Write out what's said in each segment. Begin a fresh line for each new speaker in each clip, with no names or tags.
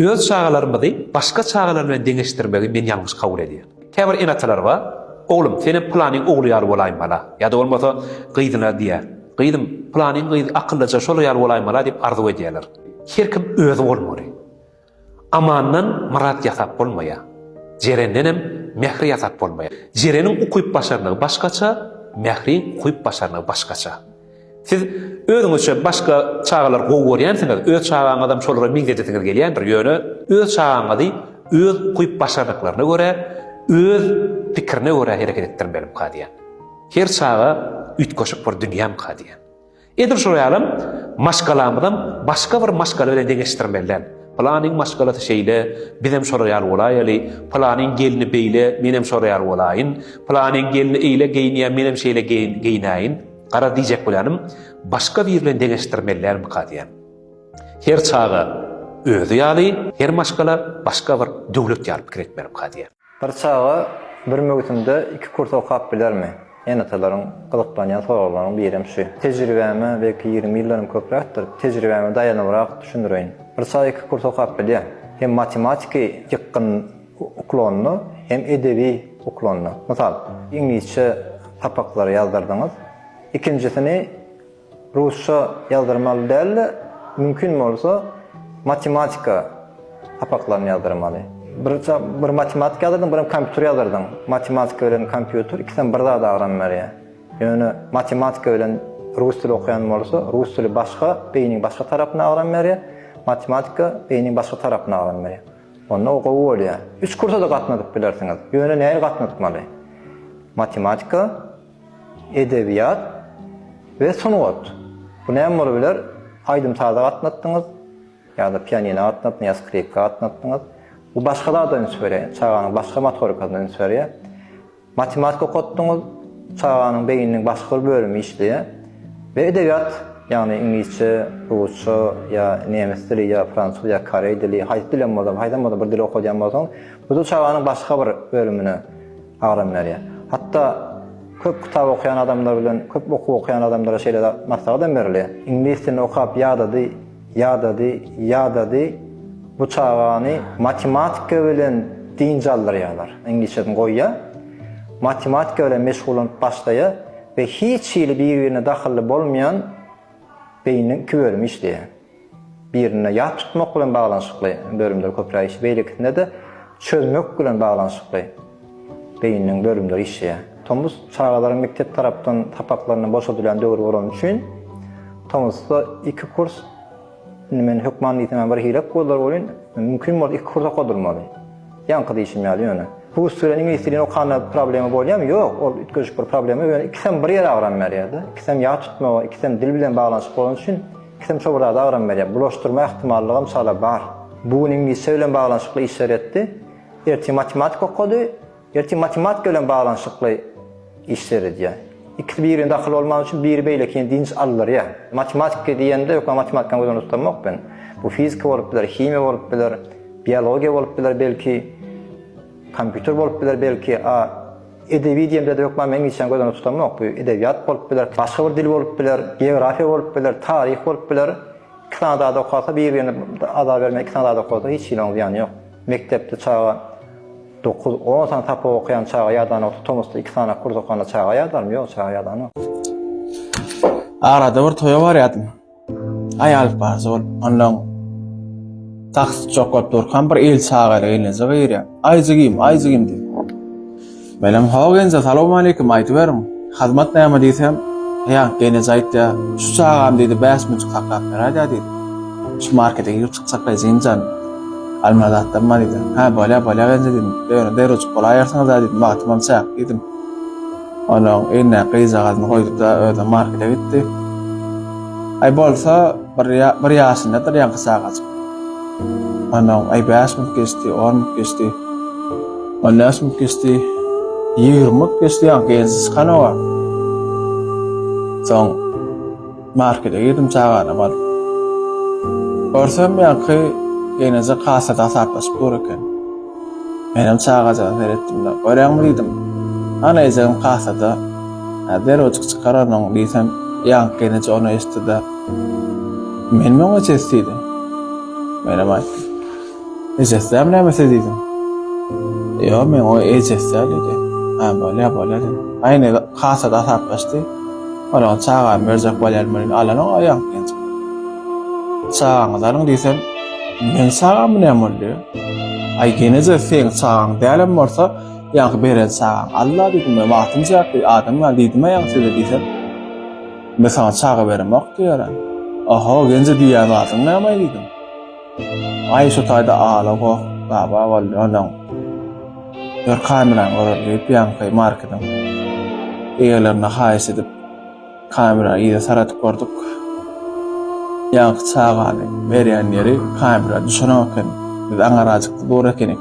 Öz çagalarymyzy başga çagalar bilen deňeşdirmegi men ýalňyş kabul edýän. Käbir ene-atalar bar, Oglum, senem pylanyň ogly ýaly bolaýmala! ýa-da bolmasa gyzyna diýýär, Gyzym, pylanyň gyzy akyllyja şolar ýaly bolaýmala diýip arzuw edýärler. Her kim özi bolmaly. Amandan myrat ýasap bolmaýar. Jerendenem Mähri ýasap bolmaýar. Jereniň ukyp-başarnygy başgaça, Mähriň ukyp-başarnygy başgaça. Siz özüňizçe başga çagalar gowy görýänsiňiz, öz çagaňyzam şolara meňzedesiňiz gelýändir, ýöne öz çagaňyzy öz ukyp-başarnyklaryna görä, öz pikirine görä hereket etdirmelimikä diýýän. Her çaga üýtgeşik bir dünýämikä diýýän. Edil şol ýalam maşgalamyzam başga bir maşgala bilen deňeşdirmeli däl. Pylanyň maşgalasy şeýle, bizem şolar ýaly bolaýaly, pylanyň gelni beýle, menem şolar ýaly bolaýyn, pylanyň gelni eýle geýinýär, menem şeýle geýinäýin. Garaz diýjek bolýanym, başga biri bilen deňeşdirmelilermika diýýän. Her çaga özi ýaly, her maşgala başga bir döwlet ýaly pikir etmelimka diýýän. Bir çaga
bir möwsümde iki kurs okap bilermi? Ene-atalaryň gyzyklanýan soraglarynyň birem şu. Tejribäme, belki ýigrimi ýyldanam köpräkdir, tejribäme daýanybrak düşündireýin. Bir çaga iki kurs okap bilýär. Hem matematiki ýykgyn. uklonda hem edebi uklonda. Mysal, iňlisçe sapaklary ýazdyrdyňyz. Ikinjisini rusça ýazdyrmaly däl-de, mümkin bolsa, matematika sapaklaryny ýazdyrmaly. Bir bir matematika ýazdyrdyň, birem kompýuter ýazdyrdyň. Matematika bilen kompýuter ikisem bir zada agram berýär. Ýöne matematika bilen rus dili okaýan bolsa, rus dili başga, beýniň başga tarapyna agram berýär, matematika beýniň başga tarapyna agram berýär. Onda o gowy bolýar. Üç kursa-da gatnadyp bilersiňiz. Ýöne näil gatnatmaly? Matematika, edebiýat we sungat. Bu näme bolup biler? Aýdym-saza gatnatdyňyz, ýa-da pianina gatnatdyňyz, ýa skripka gatnatdyňyz. Bu başga zada üns berýär. Çaganyň başga motorikasyna üns berýär. Matematika okatdyňyz, çaganyň beýniniň başga bir bölümi işleýär we edebiýat, ýagny iňlisçe, rusça ýa nemes dili ýa fransuz ýa koreý dili, haýsy dil hem bolsa, haýsam bolsa bir dil okadýan bolsaňyz, bu dil çaganyň başga bir bölümine agram berýär. Hatda köp kitap okaýan adamlar bilen köp okuw okaýan adamlara şeýle zat, maslahat hem berilýär. Iňlis dilini okap ýadady, Ýadady, ýadady, bu çagany matematika bilen dynç aldyrýarlar, iňlisçesini goýýar, matematika bilen meşgullanyp başlaýar we hiç hili bir-birine dahylly bolmaýan beýniniň iki bölümi işleýär. Birinde ýat tutmak bilen baglanyşykly bölümler köpräk işleýär, beýlekisinde-de çözmek bilen baglanyşykly. Beýniniň bölümleri işleýär. Tomus çagalaryň mekdep tarapdan sapaklaryndan boşadylýan döwri bolany üçin, tomusda iki kurs, indi men hökman diýsemem bir hile goldar bolýyn, mümkin bolsa iki kurs okadylmaly. Ýaňky diýşim ýaly ýöne. Rus dilini, iňlis dilini okanda problema bolýarmy? Ýok, ol üýtgeşik bir problema, ýöne ikisem bir ýere agram berýär-de. Ikisem ýat tutmaga, ikisem dil bilen baglanyşykly bolany üçin, ikisem şo bir zada agram berýär. Bulaşdyrma ähtimallygam çala bar. Bu gün iňlisçe bilen baglanyşykly işler etdi. Ertir matematika okady, ertir matematika bilen baglanyşykly iş seredýär. Ikisi bir-birine dahyl bolman üçin biri beýlekini dynç aldyrýar. Matematika diýende ýöne matematikany göz öňünde tutanok men. Bu fizika bolup biler, himiýa bolup biler, biologiýa bolup biler belki, kompýuter bolup biler belki, a edebi diýemde-de hökman men işan göz öňünde tutanok. Bu edebiýat bolup biler, başga bir dil bolup biler, geografiýa bolup biler, taryh bolup biler. Iki sany zady okasa bir-birine ada bermän iki sany zady okasa hiç hili onuň zyýany ýok. Mekdepde çaga dokuz, on sany sapak okaýan çaga ýadanokdy, tomusda iki sany kurs okanda çaga ýadarmy, ýok çaga ýadanok. Arada
bir toýa barýardym. Aý alyp barjak bolup, onnoň taksist jokgap durkam bir il çagaly gelneje girýär. Aý jigim, aý jigim diýip. Menem Hawa genje salowmaleýkim aýdyberiň Hazmat näme diýsem Ýa genije aýtýa şu çagam diýdi bäş müňjik saklap beräýdä diýdi Şu markete girip çykjak Rejiňjan Almazatdan bar diýdi Hä bolýa bolýa genje diýdim Ýöne derwejik bolaýersiňizä diýdim wagtymam çäk diýdim Onuň eýnäki gyzjagazyny goýdupda özem markete gitdi Aý bolsa Bir, bir ýaşyndadyr ýaňky çagajyk. Ondan aý 5 minut geçdi, 10 minut geçdi. 15 minut geçdi. 20 minut geçdi ýaňky ensi çykan owa. Soň markete girdim çagana bar. Görsem ýaňky ýeneje kasada hasaplaşyp dur eken. Menem çagaja seretdim de, görýäňmi diýdim. Ana ejem kasada. Häzir ojuk çykarandyň diýsem, ýaňky ýeneje ony eşitdi de, Menem oňa ses diýdim. Menem aýtdym. Ejesem näme ses diýdim. Ýa men o ejesem diýdi. Ha bolýa bolýa diýdim. Aýny hasa da hasaplaşdy. Ola çaga berjek bolýar men alana aýam diýdi. Çagaňyz alyň diýsem, men çagam ne bolýa? Aý geneje sen çagaň dälem bolsa, ýa beren çagaň Allah diýdim. Men wagtym çakdy, adam ýa diýdim aýam size diýsem. Men saňa çaga beremok diýýärem. Oho, genje diýýän zadyň näme-aý diýdim. Aý, şo taýda ala goh, baba boldy onuň. Ýör kamerany göreli diýip, ýaňky marketiň eýelerine haýyş edip, kamera yza saradyp gördük. Ýaňky çagany berýän ýeri kamera düşenok eken. Biz aňarajykda dur ekenik.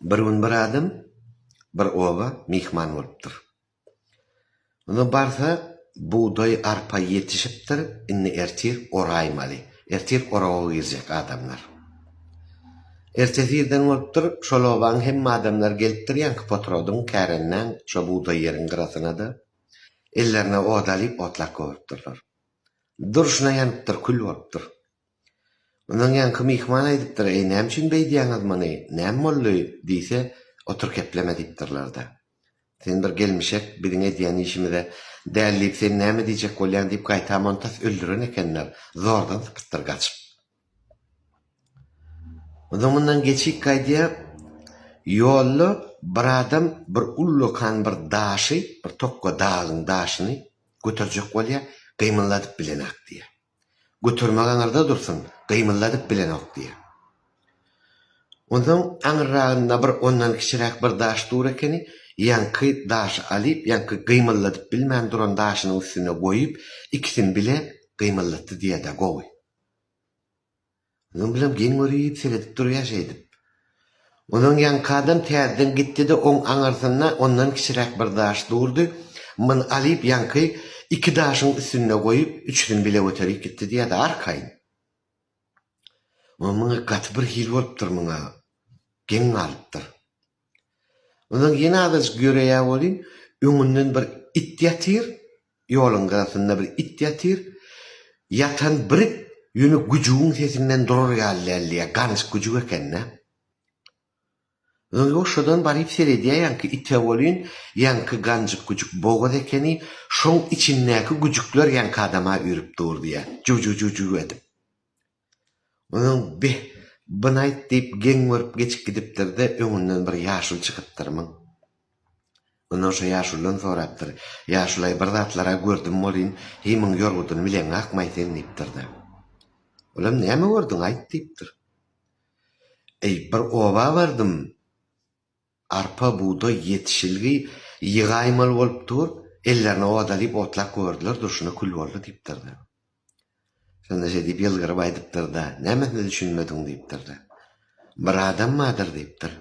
Bir gün bir adam bir oba myhman bolupdyr. Onda barsa, bugdaý, arpa ýetişipdir, indi ertir oraýmaly. Ertir orawa girjek adamlar. Ertesi irden bolupdyr, şol obaň hemme adamlary gelipdir, ýaňky potrodyň, kärendeň şo bugdaý ýeriň gyrasyna-da, ellerine ot alyp otlap goýupdyrlar. Durşuna ýanypdyr, kül bolupdyr. Mundan ýaňky myhman aýdypdyr, Eý, näme üçin beýdýäňiz muny, näme boldy? diýse, Otur kepleme diýipdirler-de. Sen bir gelmişek, biziň edýän işimize däl diýip, sen näme diýjek bolýaň diýip, gaýta montas öldüren ekenler, zordan sypypdyr gaçyp. Onsoň mundan geçýik gaýdýa, ýolda bir adam bir ullakan bir daşy, bir tokga dagyň daşyny göterjek bolýa, gymylladyp bilenok diýýä. Götermek aňyrda dursun, gymyldadyp bilenok, diýýär. Onsoň aňyrragynda bir ondan kiçiräk bir daş dur ekeni, ýaňky daşy alyp, ýaňky gymyldadyp bilmän duran daşynyň üstüne goýup, ikisini bile gymyldatdy diýer-dä, gowy. Öňem bilen geň görüp, seredip durýar şeýdip. Onuň ýaňkadan täzeden gitdi-de, oň aňyrsynda ondan kiçiräk bir daş durdy. Muny alyp, ýaňky iki daşyň üstünde goýup, üçüsini bile göterip gitdi diýýär-de, arkaýyn. Muňa gaty birhili bolupdyr, muňa geň galypdyr. Onsoň ýene azajyk ýöreýä welin, öňünden bir it ýatyr, ýoluň gyrasynda bir it ýatyr. Ýatan bir it ýöne güjügiň sesinden durar ýaly däl diýýä, ganyş güjük eken-dä. Onsoň şodan baryp seredýä ýaňky ite welin, ýaňky ganjyk güjük bogaz ekeni, şoň içindäki güjükler ýaňky adama üýrüp dur diýýä, juw-juw-juw-juw edip. Onuň Beh, buny aýt diýip geň görüp geçip gidipdir-de, öňünden bir ýaşul çykypdyr. Myň. Ondan şo ýaşuldan sorapdyr, Ýaşul-aý, bir zatlar-a gördüm welin, heý, muň ýorgudyny bileňakm-aý sen diýipdir-de. Olam Näme gördüň, aýt diýipdir. Eý, bir oba bardym. Arpa, bugdaý, ýetişilgi ýygaýmaly bolup dur, ellerine ot alyp otlap gördüler, durşuna kül boldy diýipdir-de. Şonda şeý diýip ýylgyryp aýdypdyr-da, Nämesine düşünmediň? diýipdir-de. Bir adam bardyr diýipdir.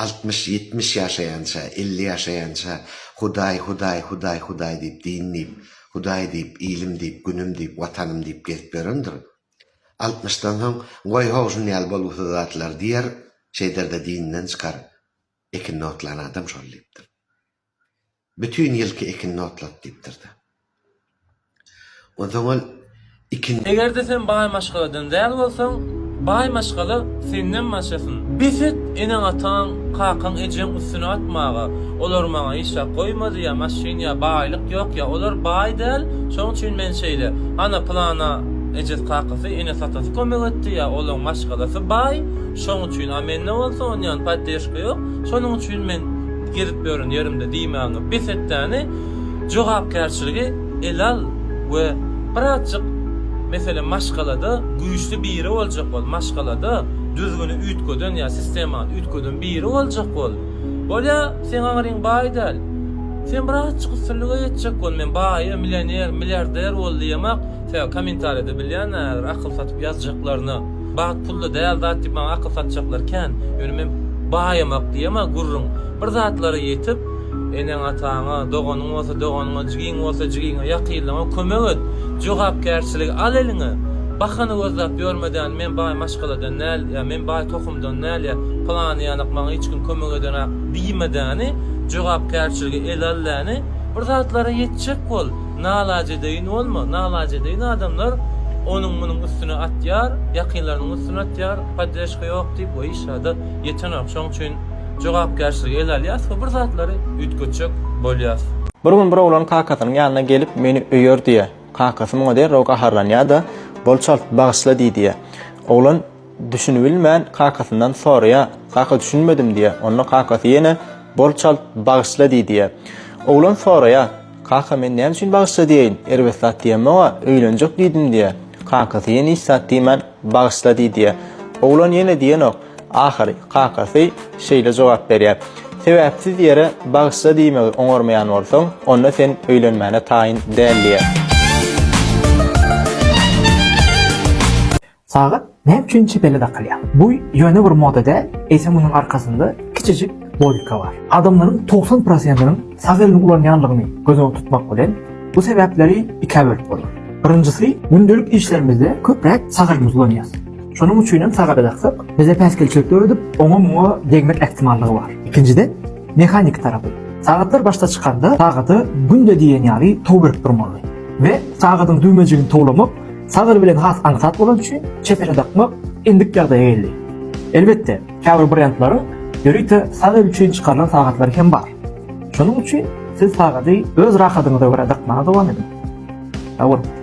Altmyş, ýetmiş ýaşaýança, elli ýaşaýança Hudaý, Hudaý, Hudaý, Hudaý diýip, din diýip, Hudaý diýip, ilim diýip, günüm diýip, watanym diýip gezip ýörendir. Altmyşdan soň, Goý, how, şuny al, bolgusyz zatlar, diýer, şeýder-de dininden çykar, Ekinini otlan adam şol diýipdir. Bütin ýylky ekinini otlat diýipdir-de. Onsoň ol ikindi. Eger-de
sen baý maşgaladan däl bolsaň, baý maşgala senden maşasyn. Bes et, eneň-ataň Kakaň ejeň üstüne atmaga. Olar maňa hiç zat goýmady ýa maşyn ýa baýlyk ýok ýa olar baý däl şoň üçin men şeýle. Ana pylana ejesi kakasy enes atasy kömek etdi ýa olaň maşgalasy baý şoň üçin a mende bolsa onýan poddežka ýok şonuň üçin men gezip ýören ýerimde diýmäňi bes etdäni jogapkärçiligi ele al we birazjyk, meselem, maşgalada güýçli biri boljak bol, maşgalada düzgüni üýtgeden ýa sistemany üýtgeden biri boljak bol. Bolýa, seň aňryň baý däl. Sen birazjyk üstünlige ýetjek bol, men baýa, millioner, milliarder bol diýemak, sebäbi kommentariýada bilýän-ä häzir akyl satyp ýazjaklaryny, bagt pulda däl zat diýip maňa akyl satjaklar kän, ýöne men baýamak diýemä gürrüň, bir zatlara ýetip, Eneň-ataňa, doganyň bolsa doganyňa, jigiň bolsa jigiňe, ýakynlaňa kömek et. Jogapkärçiligi al eliňe. Bahana gözläp ýörmedän, men baý maşgaladan däl ýa men baý tohumdan däl ýa pylany ýalak maňa hiç kim kömek ederäk diýmedäni, jogapkärçiligi ele aldäni, bir zatlara ýetjek bol. Nalajedeýin bolma. Nalajedeýin adamlar onuň-munuň üstüne atýar, ýakynlarynyň üstüne atýar, poddreşka ýok diýip we hiç zada ýetenok. Şoň üçin. jogapkärçiligi ele alýas we bir zatlary üýtgetjek bolýas. Bir gün bir oglan
kakasynyň ýanyna gelip meni öýer diýýä. Kakasy muňa derrew gaharlanýada, bol çalt bagyşla diý diýýä. Oglan düşünibilmän kakasyndan soraýa, kaka düşünmedim diýýä. Onda kakasy ýene bol çalt bagyşla diý diýýä. Oglan soraýa, kaka men näme üçin bagyşla diýeýin, erbet zat diýemog-a, öýlenjek diýdim diýýä. Kakasy ýene hiç zat diýmän bagyşla diý diýýä. Oglan ýene diýenok. Ahyry, kakasy şeýle jogap berýär, Sebäpsiz ýere Bagyşla diýmegi oňarmaýan bolsaň, onda sen öýlenmäne taýyn däl diýýär.
Sagat näme üçin çepele dakylýar? Bu ýöne bir moda däl, eýsem onuň arkasynda kiçijik logika bar. Adamlaryň togsan prosentiniň sag elini ulanýanlygyny göz öňünde tutmak bilen, bu sebäpleri ikä bölüp bolar. Birinjisi, gündelik işlerimizde köpräk sag elimizi ulanýarys. Şonuň üçin hem sag ele daksak, bize päsgelçilik döredip, oňa-muňa degmek ähtimallygy bar. Ikinjiden, mehaniki tarapy. Sagatlar başda çykanda sagada günde diýen ýaly tow berip durmaly we sagadyň düwmejigini towlamak sag el bilen has aňsat bolany üçin çep ele dakmak endik ýagdaýa geldi. Elbetde, Käbir brendleriň ýörite salyr üçin çykarylan sagatlary hem bar. Şonuň üçin siz sagady öz rahadyňyza görä dakmaga dowam ediň. Sagbolun!